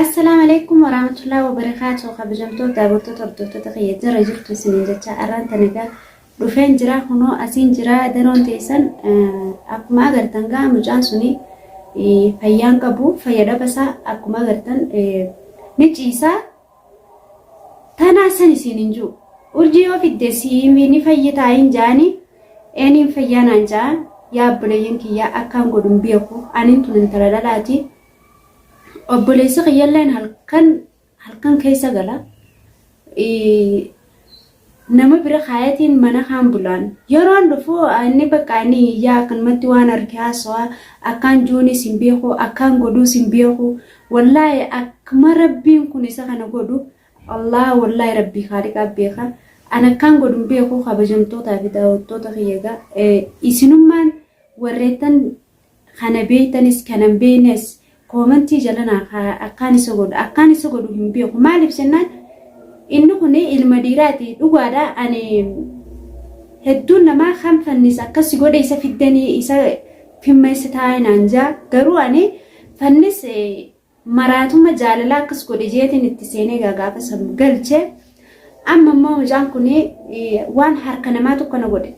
Assalaamu alaikum warahmatullahi wabarakatuh kabajamtoota daawwattoota hordoftoota kiyya jira jirtu isiniin jecha arraan tan egaa dhufeen jira kunoo asiin jira daroon teessan akkuma agartan gaa mucaan suni fayyaan qabu fayya dhabasaa akkuma agartan ni ciisaa Tanaa san isiin hin jiru. Urjii yoo fidde siimi ni fayyitaa hin jaani eeniin fayyaa naan jaa yaa obboleeyyan kiyyaa akkaan godhun beeku anin tun intala dhalaati obboleessi kiyyalleen halkan halkan keessa gala nama bira kaayatiin mana kaan bulaan yeroon dhufu inni baqqaa inni iyyaa akkanumatti waan arke haasawaa akkaan juuniis hin beeku akkaan godhuus hin beeku wallaahi akkma rabbiin kun isa kana godhu allah wallaahi rabbii kaaliqaa beeka an akkaan godhu hin beeku kabajamtootaa fi daawwattoota kiyyagaa isinummaan warreettan Kana beektanis kana hin beeknes koomentii jala naa kaayaa akkaan isa godhu akkaan isa godhu hin beeku maaliif jennaan inni kun ilma dhiiraati dhugaadha ani hedduun namaa kan fannis akkas si godhe isa fiddanii isa fimmeessitaa'e naan jaa garuu ani fannis maraatuma jaalalaa akkas godhe jeetiin itti seenee gaa gaafa san galche amma immoo mucaan kun waan harka namaatu kana godhe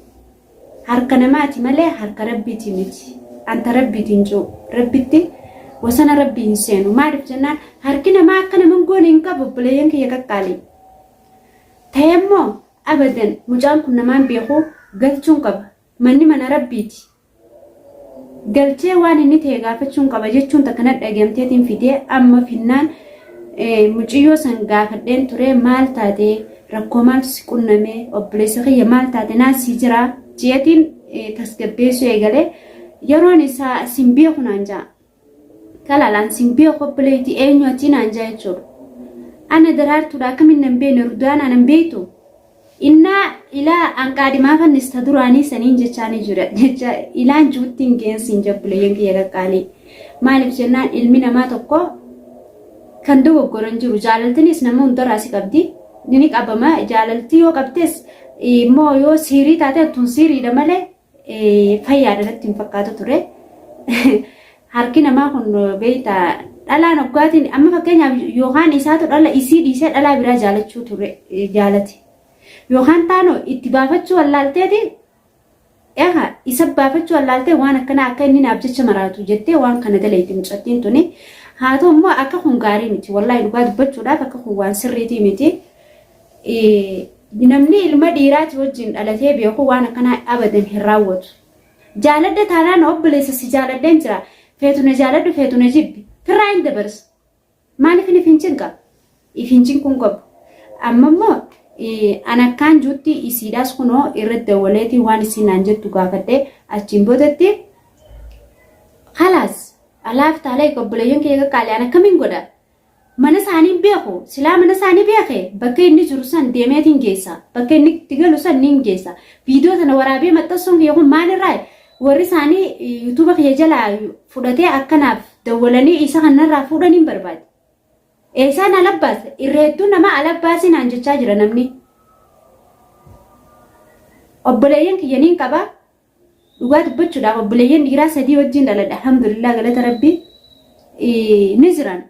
harka namaati malee harka rabbiiti miti anta rabbiiti hin jiru rabbitti wasana rabbii hin seenu maaliif jennaan harki namaa akka naman goone hin qabu obboleeyyan kiyya qaqqaalii ta'e immoo abadan mucaan kun namaan beeku galchuun qaba manni mana rabbiiti galchee waan inni ta'e gaafachuun qaba jechuun takka na dhagamteetiin fidee amma finnaan muciyyoo san gaafadheen ture maal taate rakkoo maaltu si qunname obboleessa kiyya maal taate naan si jira jeetiin tasgabbeessuu eegalee yeroon isaa sin beeku naan ja'a. Talaalaan sin beeku obboleeyti eenyu ati naan jaa jechuudha. Ana daraartuudha akkamiin nan beekne rudaanaa nan beektu. Innaa ilaa an qaadhimaa fannista duraanii saniin jechaanii jira jecha ilaan juuttiin geensiin jabbuleeyyan kiyya qaqqaalii. Maaliif jennaan ilmi namaa tokko kan dogoggoran jiru jaalaltinis nama hundarraa si qabdi. Ni qabama jaalalti yoo qabdes immoo yoo siirii taate attuun siiriidha malee Fayyaadha natti hin fakkaatu ture. Harki namaa kun beekta dhalaan oggaatiin amma fakkeenyaaf yookaan isaatu dhala isii dhiisee dhalaa biraa jaalachuu ture jaalate. Yookaan taanoo itti baafachuu wallaalteeti Egaa isa baafachuu wallaaltee waan akkanaa akka inni naaf jecha maraatu jettee waan kana daleetti mucattiin tuni. Haa ta'u immoo akka kun gaarii miti. Wallaahi dhugaa dubbachuudhaaf akka kun waan sirriitii miti. Namni ilma dhiiraati wajjin dhalatee beeku waan akkanaa abadan hin raawwatu. Jaaladha taanaan obboleessa si jaaladheen jira. Feetu na jaaladhu feetu na jibbi. Firraa hin dabarsu. Maaliif hin ifin cinqa? Ifin cinquun qabu. Amma immoo an akkaan juutti isiidhaas kunoo irratti dawwaleetii waan isiin naan jettu gaafadhee achiin boodatti khalaas alaaf taalee obboleeyyan kiyya qaqqaalee an akkamiin godha? Mana isaanii hin beeku. Silaa mana isaanii beeke bakka inni jiru san deemeetiin geessa. Bakka inni itti galu san niin geessa. Viidiyoo tana waraabee maxxansuun kiyya kun maalirraa warri isaanii yuutuuba kiyya jalaa fudhatee akkanaaf dawwalanii isa kanarraa fuudhan hin barbaade. Eessaan alabbaas irra hedduu nama alabbaasii naan jechaa jira namni. Obboleeyyan kiyya niin qaba. Dhugaa dubbachuudhaaf obboleeyyan dhiiraa sadii wajjin dhaladhe alhamdulillah galata rabbii ni jiran.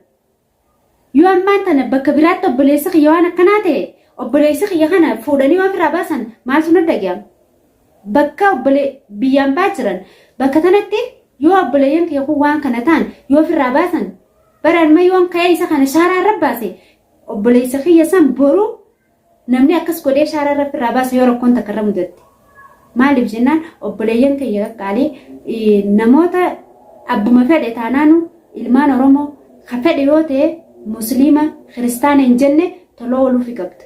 Yoo ammaan tana bakka biraatti obboleessi kiyya waan akkanaa ta'e obboleessi kiyya kana fuudhanii waan irraa baasan maaltu na dhaga'ama. Bakka obbolee biyyaan baa jiran bakka tanatti yoo obboleeyyan kiyya kun waan kana ta'an yoo ofirraa baasan baraan ma yoon ka'ee isa kana shaaraa irra baase obboleessa kiyya san boru Namni akkas godhee shaaraa Rabbi irraa baasa yoo rakkoon takka irra mudatte. Maaliif jennaan obboleeyyan kiyya qaqqaalii namoota abbuma fedhe taanaanu ilmaan Oromoo ka fedhe yoo ta'e musliima kiristaana hin jenne tola ooluufi qabda.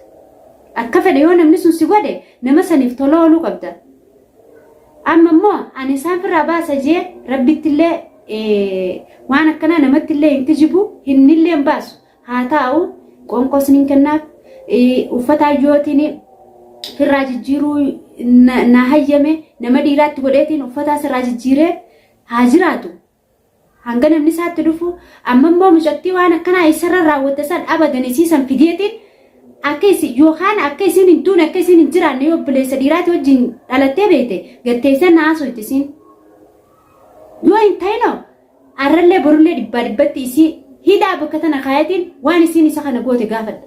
Akka fedhe yoo namni sun si godhe nama saniif tola ooluu qabda. Amma immoo ani isaan firraa baasa jee rabbittillee waan akkanaa namattillee hin kijibu hinnillee hin baasu. haa taa'u qoonqoos nin kennaaf uffata hayyootiin firraa jijjiiruu na hayyame nama dhiiraatti godheetiin uffataa sirraa jijjiiree haa jiraatu. Hanga namni isaatti dhufu amma immoo mucattii waan akkanaa isarra raawwatte san abadan isii san fideetiin akka isin yookaan akka isin hin duune akka isin hin jiraanne yoo obboleessa dhiiraatti wajjin dhalattee beekte gatteessee na haasofti isin. Yoo hin ta'inoo Arrallee borullee dhibbaa dhibbatti isii hidhaa bakka tana kaayatiin waan isiin isa kana goote gaafadha.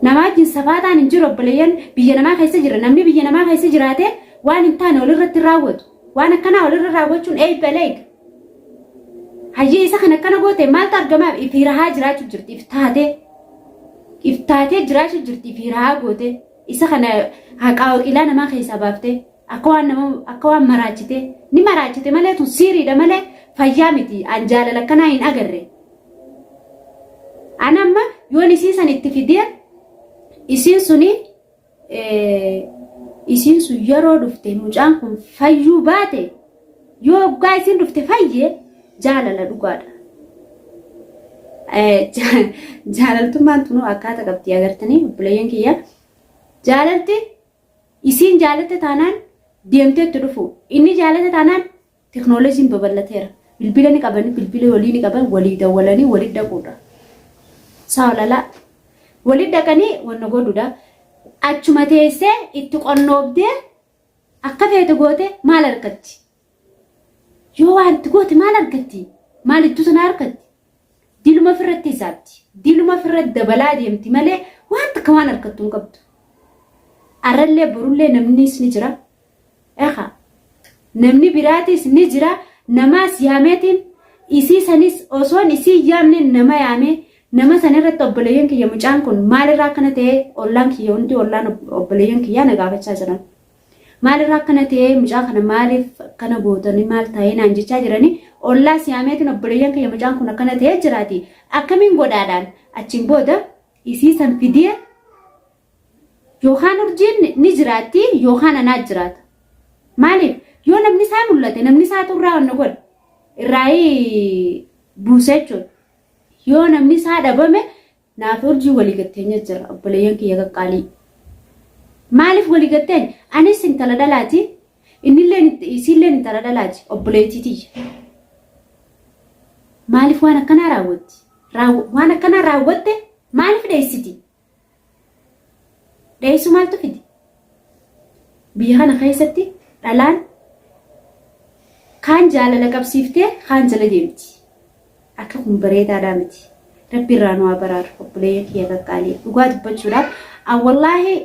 Namaa wajjin safaataan hin jiru obboleeyyan biyya namaa keessa jira. Namni biyya namaa keessa jiraate waan hin taane walirratti raawwatu. Waan akkanaa walirra raawwachuun eebba leeg. Hayyee isa kan akkana goote maaltu argamaaf ifi rahaa jiraachuu jirti if taatee. If taatee jiraachuu jirti ifi rahaa goote. Isa kana haqaa waqiilaa namaa keessaa baaftee. Akka waan nama akka waan maraachitee ni maraachite malee tun siiriidha malee fayyaa miti an jaalala akkanaa hin agarre. An amma yoon isii san itti fidee isiin suni isiin sun yeroo dhufte mucaan kun fayyuu baate yoo oggaa isiin dhufte fayye jaalala dhugaadha. Jaalaltummaan tunuu akkaata qabdi agartanii obboleeyyan kiyya jaalalti Isiin jaalatte taanaan deemtee itti dhufuu. Inni jaalate taanaan teknooloojiin babal'ateera. Bilbila ni qabani, bilbila walii ni qaban, walii dawwalanii walitti dhaquudha. Saa olalaa. Walitti dhaqanii wanna godhuudha. Achuma teessee itti qonnoobdee akka feete goote maal argatti? Yoo waan itti goote maal argatti? Maal iddoo sanaa argatti? Diluma ofirratti hisaabdi. Diluma ofirratti dabalaa deemti malee waan takka waan argattu hin qabdu. Arrallee borullee namnis ni jira. Eha namni biraatis ni jira. Namaas yaameetiin isii sanis osoon isii yaamne nama yaamee nama san irratti obboleeyyan kiyya mucaan kun maalirraa akkana ta'ee ollaan kiyya hundi ollaan obboleeyyan kiyyaa na gaafachaa jiran. Maal irraa akkana ta'ee mucaa kana maaliif akkana gootanii maal taa'ee naan jechaa jiranii ollaa siyaameetiin obboleeyyan kiyya mucaan kun akkana ta'ee jiraati akkamiin godhaadhaan achiin booda isii san fidee yookaan urjiin ni jiraatti yookaan anaa jiraata. Maaliif yoo namni isaa mul'ate namni isaa xurraa wanna godha irraa buusa jechuudha. Yoo namni isaa dhabame Naaf urjii waligatteenya jira obboleeyyan kiyya qaqqaalii. Maaliif waligatteenya? Anis intala dhalaati. Innilleen isiilleen intala dhalaati obboleettii tiyya. Maaliif waan akkanaa raawwatti? Waan akkanaa raawwatte maaliif dheessiti? Dheessu maaltu fide? Biyya kana keessatti dhalaan kaan jaalala qabsiiftee kaan jala deemti. Akka kun bareedaadhaa miti. Rabbi irraa nu haa baraaru obboleeyyan kiyya qaqqaalii. Dhugaa dubbachuudhaaf an wallaahi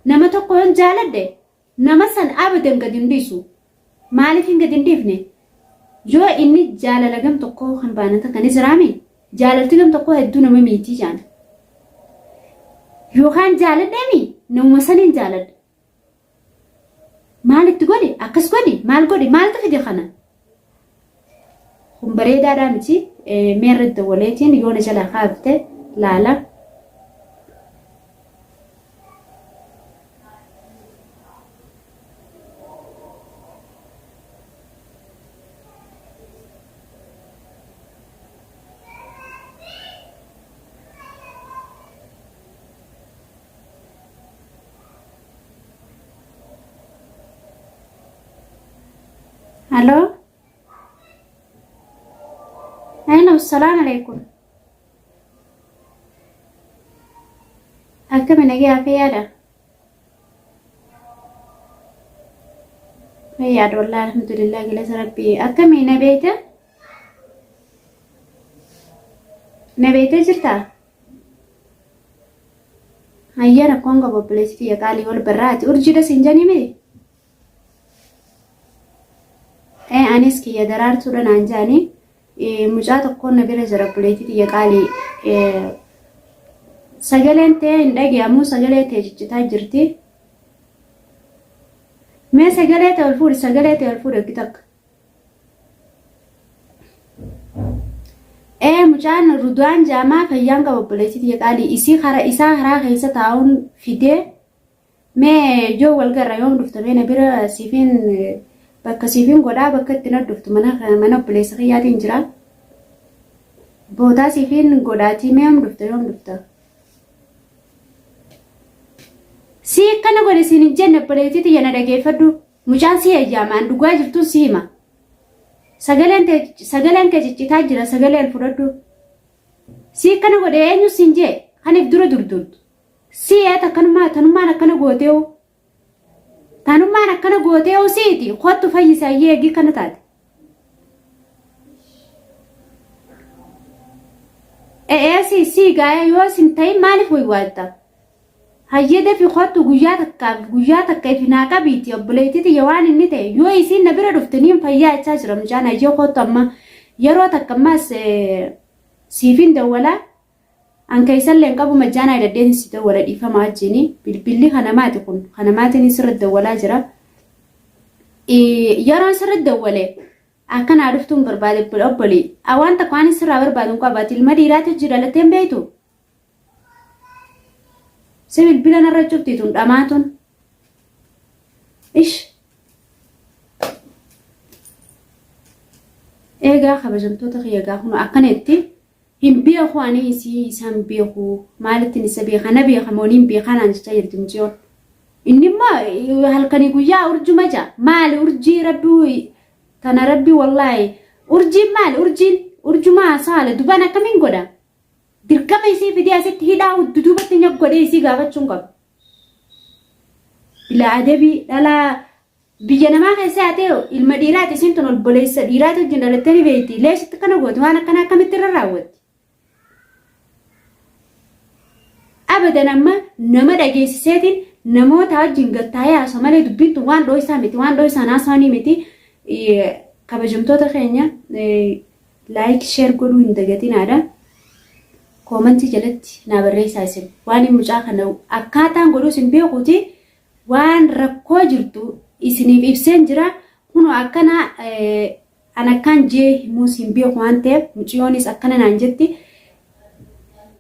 nama tokko yoon jaaladhe nama san abadan gad hin dhiisu. Maaliifin gad hin dhiifne? Yoo inni jaalala gam tokkoo kan baanan takka ni jiraami? Jaalalti gam tokkoo hedduu nama miitii jaan. Yookaan jaaladheemi namuma saniin jaaladha. Maal itti godhi? Akkas godhi? Maal godhi? Maaltu fide kana? Kun bareedaadhaa miti mee irra dawwaleetiin yoo na jalaa kaafte laala. Hello? Hello, salam alaikum. Akkami nagee hafee yaada? Yaada wallah alhamdulillah galata rabbii. Akkami na beeyta? Na beeyta jirtaa? Hayyee rakkoon qabu obboleessi kiyya qaalii wal barraati. Urjii das hin janii mee? Ee anis kiyya daraartuudha naan jaanii. Mucaa tokkoon na bira jira obboleetti kiyya qaalii. Sagaleen tee hin dhagee'amu sagalee tee ciccitaa jirti. Mee sagalee tee ol fuudhi sagalee tee ol fuudhi hojii takka. ee mucaan ruduwaan jaamaa fayyaan qaba obboleessi tiyya qaalii isii kara isaa karaa keessa taa'uun fidee mee yoo wal garra yoom dhufta mee na bira siifin bakka siifin godhaa bakka itti na dhuftu mana mana obboleessa kiyyaatiin jira bootaa siifin godhaatii mee yoom dhufta yoom dhufta si akkana godhe siin hin jenne obboleettii tiyya na dhageeffadhu Mucaan si heeyyaama an dhugaa jirtun si hima sagaleen tee sagaleen kee ciccitaa jira sagalee ol fudhadhu si akkana godhe eenyu sin jee kan if dura durdurtu si eet akkanummaa tanummaan akkana gooteewu tanummaan akkana gooteewu siiti kottu fayyisa ayyee eegii kana taate Eeyyee si gaa'ee yoo isin ta'in maaliif waywaadda? Hayyee dafi kottu guyyaa takkaaf guyyaa takka ifi naa qabiiti obboleettiti ya waan inni ta'e yoo isiin na bira dhufte niin fayyaa jechaa jira mucaan hayyee kottu amma yeroo takka ammas siifin dawwalaa. An kaysallee hin qabu majjaanaa idaddeetin si dawwala dhiifama ajjiini bilbilli kanamaati kun kanamaatiin isirra dawwalaa jira yeroo isirra dawwale akka naa dhuftuun barbaade obboli a waan takka waan isirraa barbaadu hin qabu ati ilma dhiiraati hojii dhalatteen beeytu si bilbila narra cuftiitun dhamaatun ish eegaa kabajamtoota kiyya gaa kun akkana itti Hin beeku ani isii isaa hin beeku maalittin isa beeka na beeka moo niin beekaa naan jechaa jirti miciyoon inni immoo halkanii guyyaa urjuma ja maali urjii rabbii tana rabbii wallaahi urjiin maali urjiin urjuma haasawaale dubaan akkamiin godha dirqama isii fidee asitti hidhaa duduubatti nyaq godhee isii gaafachuun qaba bilaa adabii dhalaa Biyya namaa keessa haatee hoo ilma dhiiraati isiin tun obboleessa dhiiraati wajjin dhalattee ni beekti leesh itti kana gooti waan akkana akkamitti irra raawwatti. Abadan amma nama dhageessiseetiin namoota wajjin gattaa'ee haasoo malee dubbiin tun waan dhooysaa miti waan dhooysaan haasawanii miti kabajamtoota keenya laayik sheer godhuu hin dagatinaadha. Koomantii jalatti naa barreessaa isin waan mucaa kana akkaataan godhuu isin beekuuti waan rakkoo jirtu isiniif ibseen jira kunoo akkana an akkaan jee himuus hin beeku waan ta'eef muciyoonis akkana naan jetti.